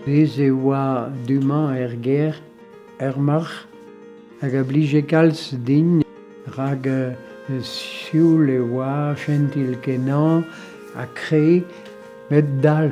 Bez e oa du-mañ er gêr, er marc'h. hag a blije kalz din rak sioul e oa, jentil-kenañ ha kre, met dall.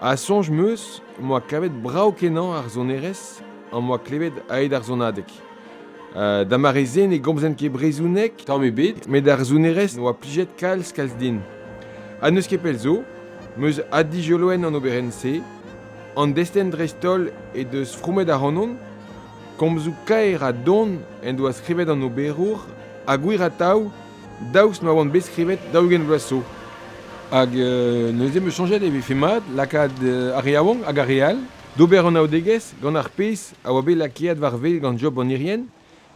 Ha soñj 'm eus em boa kavet brav-kenañ ar sonerezh am boa klevet aet ar sonadeg. Da mare-se ne gomzen ket brezhoneg tamm ebet met ar sonerezh a oa plijet kalz-kalz din. Ha n'eus ket pell zo 'm eus adijoloen an oberenn-se. An destenn dreist-holl he deus fromet ac'hanon. Komzoù kaer ha don en doa skrivet an oberour ha gwir atav daoust ma oan bet skrivet daou-ugent vloaz zo. Hag euh, neuze em eus soñjet e vefe mat lakaat euh, ar re yaouank hag ar re all d'ober anaoudegezh gant ar pezh a oa bet lakaet war wel gant Job an Irien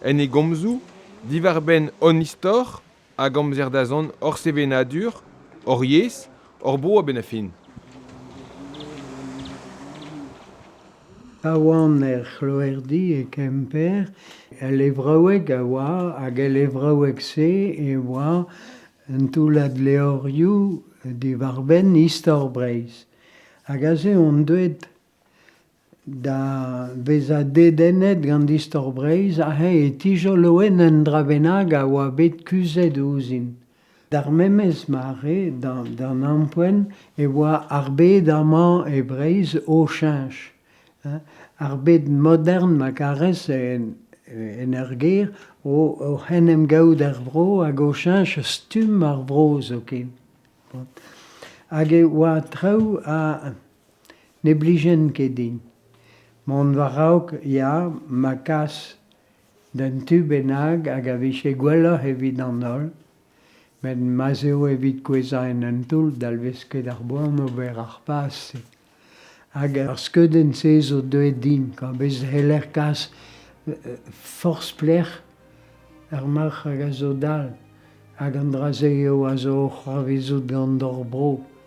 en e gomzoù diwar-benn hon istor hag amzer dazont hor sevenadur, hor yezh, hor bro a-benn ar fin. Pa oan er c'hloerdi e Kemper, el levraoueg a oa hag el levraoueg-se e oa un toullad levrioù diwar-benn istor Breizh. Hag aze on deuet da vezañ dedennet gant istor Breizh ha eñ e tijoloen un dra bennak a oa bet kuzhet ouzhin. D'ar memes mare, d'an ampoent, e oa ar bed amañ e Breizh o cheñch. Ar bed modern ma karez en ur gêr oc'h en em gaout er vro hag o cheñch stumm ar vro zoken. Hag e oa traoù ha ne blijent ket din. Mont war-raok, ya, ma kas d'un tu bennak hag a vije gwelloc'h evit an holl, met ma'z eo evit kouezhañ en un toull dalvez ket ar boan ober ar paz-se. Hag ar skeudenn-se zo deuet din, kwa, bez c'heller kas forzh pelec'h ar marc'h hag a zo dall, hag an dra-se eo a zo o c'hoarvezout gant hor bro.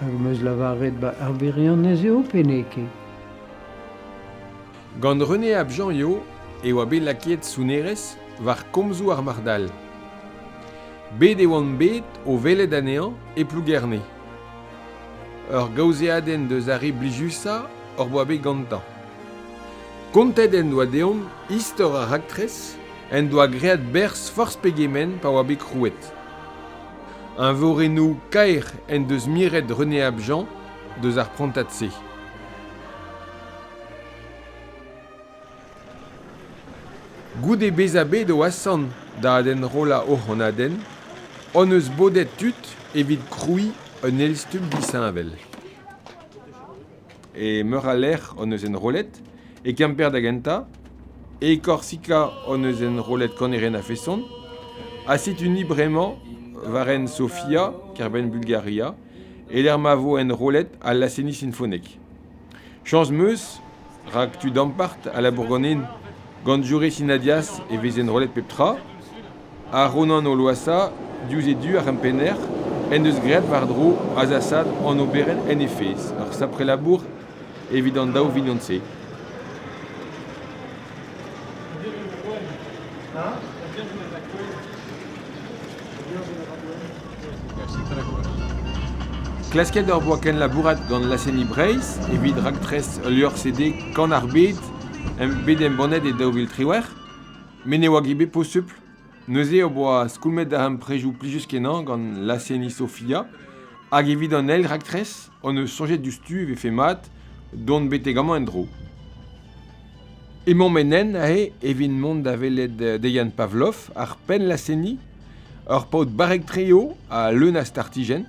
Hag am eus lavaret ba ar wirionez eo pe n'eo ket ? Gant René Ab Janriot e oa bet lakaet sonerezh war komzoù ar marc'hall. Bet e oant bet o welet anezhañ e Plougerne. Ur gaozeadenn deus ar re blijusañ hor boa bet gantañ. Kontet en doa deomp istor ar raktres en doa graet berzh forzh pegement pa oa bet krouet. Eñvorennoù kaer en deus miret René Abjean deus ar prantad-se. Goude bezañ bet o asant da adenrollañ o c'hannadenn hon eus bodet tud evit krouiñ un elstumm disheñvel. E meur a lec'h hon eus enrollet, e Kemper da gentañ, e Korsika hon eus enrollet kanerenn a-feson, ha setu-ni bremañ war hent Sofia, kêr-benn Bulgaria, e-lec'h ma vo enrollet al laz-tennis sinfonek. Chañs 'm eus, rak tud ampart a labour ganin. Gant Jure Sinadias e vez enrollet pep tra. Ar Ronan o loasañ diouzh e du ar c'hempenner en deus graet war-dro azasad an oberenn en he fezh, ur sapre labour evit an daou vignon-se. Klasket hor boa kenlabourat gant laz-seniñ Breizh evit raktres ul levr-CD Kan ar Bed bet embannet e daou vil triwec'h. Met ne oa ket bet posupl. Neuze o boa skoulmet darempredoù plijus-kenañ gant laz-seniñ Sofia hag evit an eil raktres hon eus soñjet diouzhtu e vefe mat dont betek amañ en-dro. Emaomp en hent aze evit mont da welet Dejan Pavlov, ar penn laz-seniñ, ur paotr barrek-tre eo ha leun a startijenn.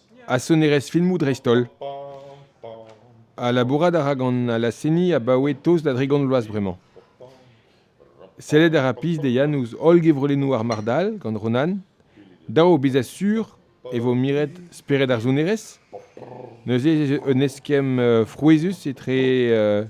Ha sonerezh filmoù dreist-holl. Ha labourat a ra gant al laz-seniñ abaoe tost da dri gant vloaz bremañ. Sellet a ra pizh Deian ouzh holl gevredennoù ar Marc'h-Dall gant Ronan. Dav eo bezañ sur e vo miret spered ar sonerezh. Neuze ez eus un eskemm frouezhus etre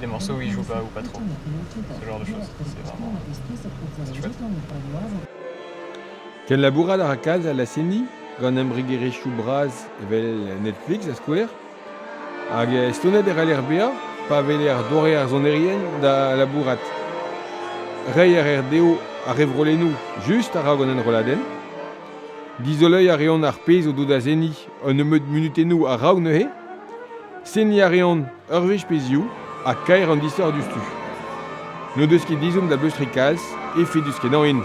Demansoù-hiziv ba ou patro, ce genre de choses, c'est vraiment festival. Kenlabourat a ra kalz a laz-seniñ gant embregerezhioù bras evel Netflix da skouer. Hag estonet e c'haller bezañ pa weler doare ar sonerien da labourat. Reiñ a reer dezho ar revrolennoù just a-raok an enrolladenn. Dizoloiñ a reont ar pezh o do da seniñ un nebeud munutennoù a-raok neuze. Seniñ a reont Ur wech pe ziv ha kaer an disoc'h diouzhtu. N'o deus ket ezhomm da bleustriñ kalz, efedus-kenañ int.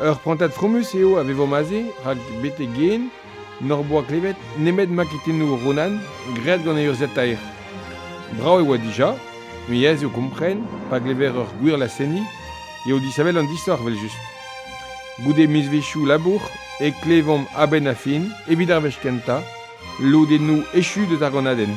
Ur prantad fromus eo a vevomp aze rak betek ken n'hor boa klevet nemet maketennoù Ronan graet gant e urzhiataer. Brav e oa dija, met aes eo kompren pa glever ur gwir laz-seniñ eo disheñvel an disoc'h evel-just. Goude mizvezhioù labour e klevomp a-benn ar fin, evit ar wech kentañ, lodennoù echu deus ar gannadenn.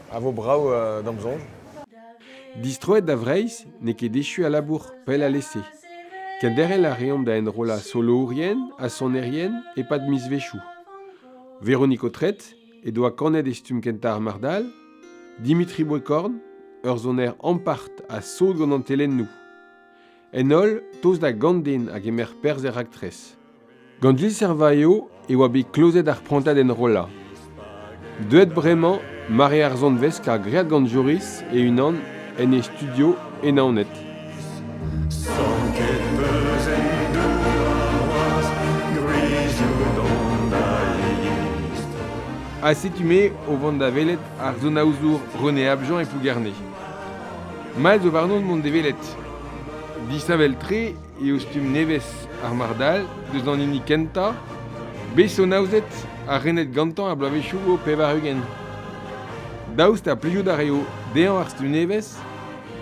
A vo brav d'am soñj. Distroet da Vreizh n'eo ket echu al labour pell alese. Kenderc'hel a reomp da enrollañ solourien ha sonerien e-pad mizvezhioù. Véronique Autret he doa kanet e stumm kentañ ar Mardal, Dimitri Boekorn, ur soner ampart ha sot gant an telennoù. En holl, tost da Ganden a gemer perzh er raktres. Gant Gilles Servaio e oa bet klozet ar prantad enrollañ. Deuet bremañ, mare ar zanvez kar graet gant Joris e-unan en e studio e Naoned. Ha setu me o vont da welet ar zonaozour René Abjean e Plougerne. Mall zo warnon mont da welet. Disheñvel-tre eo stumm nevez ar marc'hall deus an hini kentañ bet sonaozet ha renet gantañ er bloavezhioù pevar-ugent. Daoust ha plijout a raio dezhañ ar stumm nevez?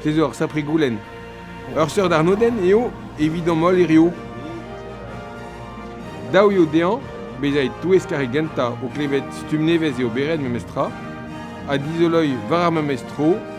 Se zo ur sapre goulenn. Ur seurt arnodenn eo evidomp holl hiriv. Dav eo dezhañ bezañ e-touesk ar re gentañ o klevet stumm nevez eo bet ret memestra ha dizoloiñ war ar memes tro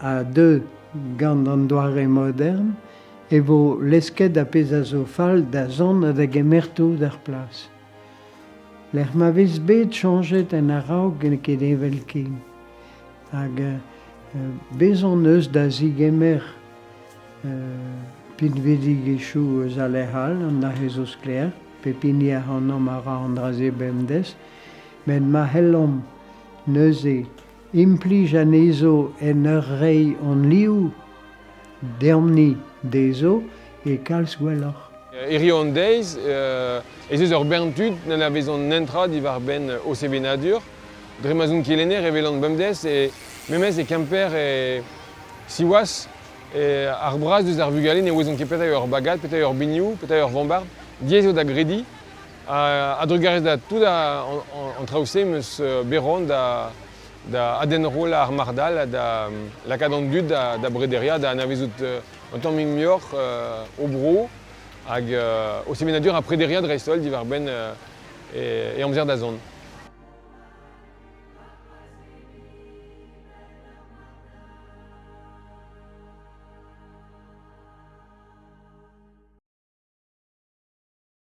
a deu gant an doare modern e vo lesket ar pezh a zo fall da zont ha da gemer tout er plas. Lec'h ma vez bet chañjet en a-raok n'eo ket evel-ken. Hag uh, bezan eus da zigemer uh, pinvidigezhioù eus a lec'h all, an aze zo sklaer, pep hini ac'hanomp a ra an dra-se bemdez, met ma c'hellomp neuze implij anezho en ur reiñ hon liv deomp-ni dezho e kalz gwelloc'h. Hiziv an deiz ez eus ur bern tud n'anavezont netra diwar-benn o sevenadur. Dre ma'z on kelenner e welan bemdez memes e Kemper e siwazh ar braz eus ar vugale ne ouezont ket petra eo ur bagad, petra eo ur binioù, petra eo ur vombard. Diaes eo da grediñ. A-drugarez da tout an traoù-se em eus bet roan da adenroll ar marc'h-dall ha da lakaat an dud da brederiañ, da anavezout un tamm muioc'h o bro hag o sevenadur ha prederiañ dreist-holl diwar-benn e amzer da zont.